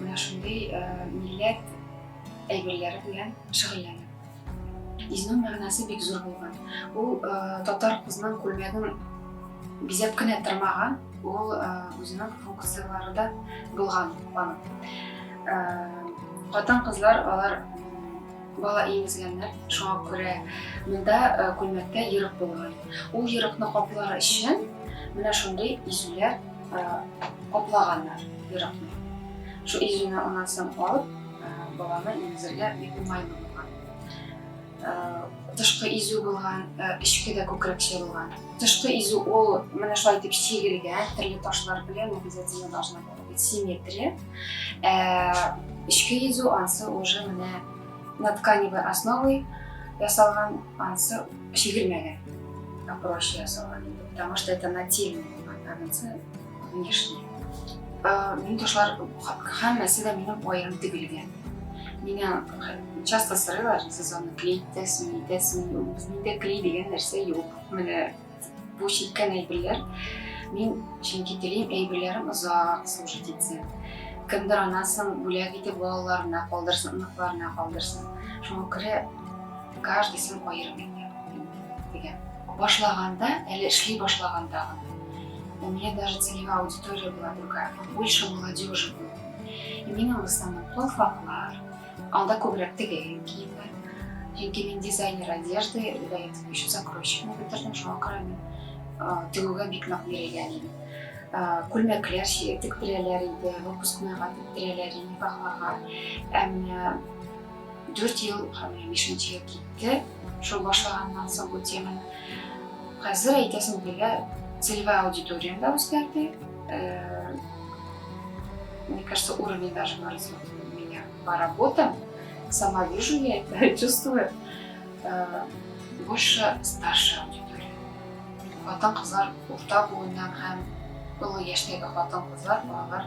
Менә шундый милләт әйберләре белән шөгыльләнә. Изнур мәгънәсе бик зур булган. Ул татар кызының күлмәген бизәп кенә тормаган, ул үзенең функцияләре дә булган аның. Хатын кызлар алар бала имезгәннәр, шуңа күрә монда күлмәктә ерык булган. Ул ерыкны каплар өчен менә шундый изүләр каплаганнар ерыкны. Шул иҗүне аннан соң алып, баланы имезергә бик уңайлы булган. Тышкы изү булган, эчке дә күкрәкчә булган. Тышкы изү ул менә шулай итеп чигелгән, төрле ташлар белән обязательно должна была быть симметрия. Эчке изү ансы уже менә на тканевой основой ясалган ансы Чигелмәгән. Проще ясалган инде. Потому что это нательный концы внешние. Минем ташлар һәммәсе дә минем аерым тегелгән. Меня часто сырыйлар, сезонны клей итәсме, итәсме, юк. Миндә клей дигән нәрсә юк. Менә бу чиккән әйберләр. Мин чөнки телим әйберләрем озак служить итсен. Кемдер анасын бүләк итеп балаларына калдырсын, оныкларына калдырсын. Шуңа күрә Каждыйсын аерым итә, дигән. Башлаганда, әле эшли башлаганда гына. У меня даже целевая аудитория была другая, больше молодежи было. И мин в основном платформалар, анда күбрәк тегелгән киемнәр. Чөнки мин дизайнер одежды, до этого еще закройщикны бетердем, шуңа күрә мин тегүгә бик нык бирелгән идем. Күлмәкләр тектерәләр иде, выпускныйга тектерәләр иде, никахларга. Ә менә Дүрт ел һәм менә бишенче ел китте шул башлаганнан соң бу теманы. Хәзер әйтәсем килә, целевая аудитория да үзгәрде. Э, мне кажется, уровень даже выразил меня по работам. Сама вижу я это, чувствую. Э, больше старшая аудитория. Хатын-кызлар урта буыннан һәм олы яшьтәге хатын-кызлар, балалар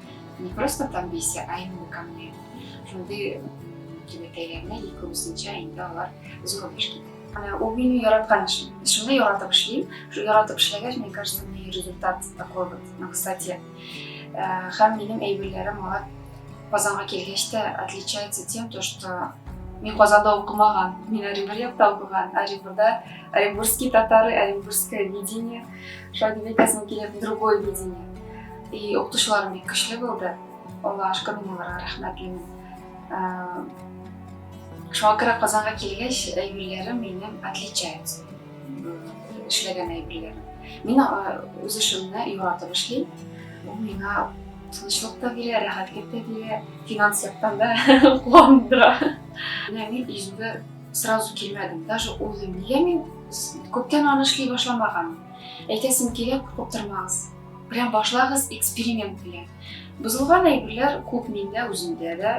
не просто там бейся а именно ко мне шундый түбәтәйләренә ике үзенчә инде алар зур эш китә ул мине яраткан эшем эшемне яратып эшлим яратып эшләгәч мне кажется мне результат такой вот на высоте һәм минем әйберләрем алар казанга килгәч тә отличается тем то что мин казанда укымаган мин оренбур якта укыган оренбурда оренбургский татары оренбургское видение Шагыйрь бетәсем килә, другое видение. И укытучыларым бик көчле булды. Алла ашка мин аларга рәхмәтлемен. Шуңа күрә Казанга килгәч, әйберләрем минем отличается. Эшләгән әйберләрем. Мин үз эшемне яратып эшлим. Ул миңа тынычлык та бирә, рәхәтлек тә бирә, финанс яктан да куандыра. Менә мин иҗүгә Сразу килмәдем, даже уйлыйм, нигә мин күптән аны эшли башламаган. Әйтәсем килә, куркып тормагыз. Прям башлагыз эксперимент белән. Бозылган әйберләр күп миндә, үземдә дә.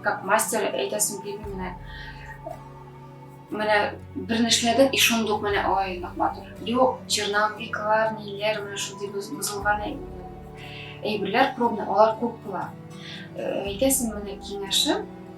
Как мастер әйтәсем килми менә. Менә берне эшләдек, и шундук менә ой, нык матур. Юк, черновиклар, ниләр, менә шундый бозылган әйберләр пробный, алар күп була. Әйтәсем менә киңәшем,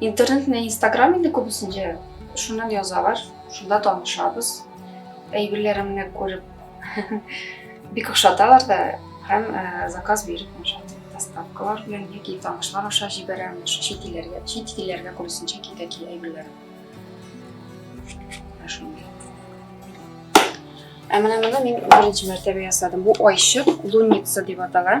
Интернет менә Instagram инде күбесенчә шуннан язалар, шунда танышабыз. Әйберләремне күреп бик ошаталар да һәм э, заказ биреп ошатып доставкалар белән яки танышлар аша җибәрәм, чит илләргә, чит илләргә күбесенчә китә ки әйберләрем. Ә менә моны мин беренче мәртәбә ясадым. Бу айчык, лунница дип атала.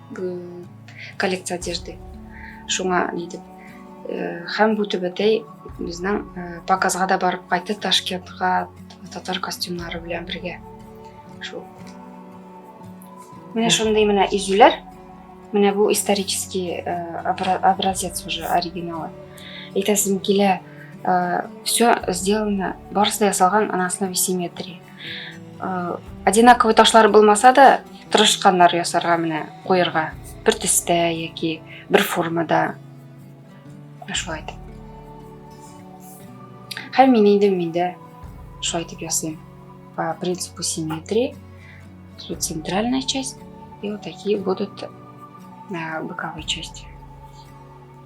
коллекция одежды шуңа ни дип э, һәм бу түбәтәй безнең э, показга да барып кайтты ташкентка татар костюмнары белән бергә шул менә шундый менә изүләр менә бу исторический э, образец уже оригиналы әйтәсем килә все сделано барысы да ясалган на основе симметрии Э, одинаковый ташлар булмаса да, тырышканнар ясарга менә куерга. Бер төстә яки бер формада. Шулай итеп. Һәм мин инде миндә шулай итеп ясыйм. По принципу симметрии. Тут центральная часть и вот такие будут э, боковые части.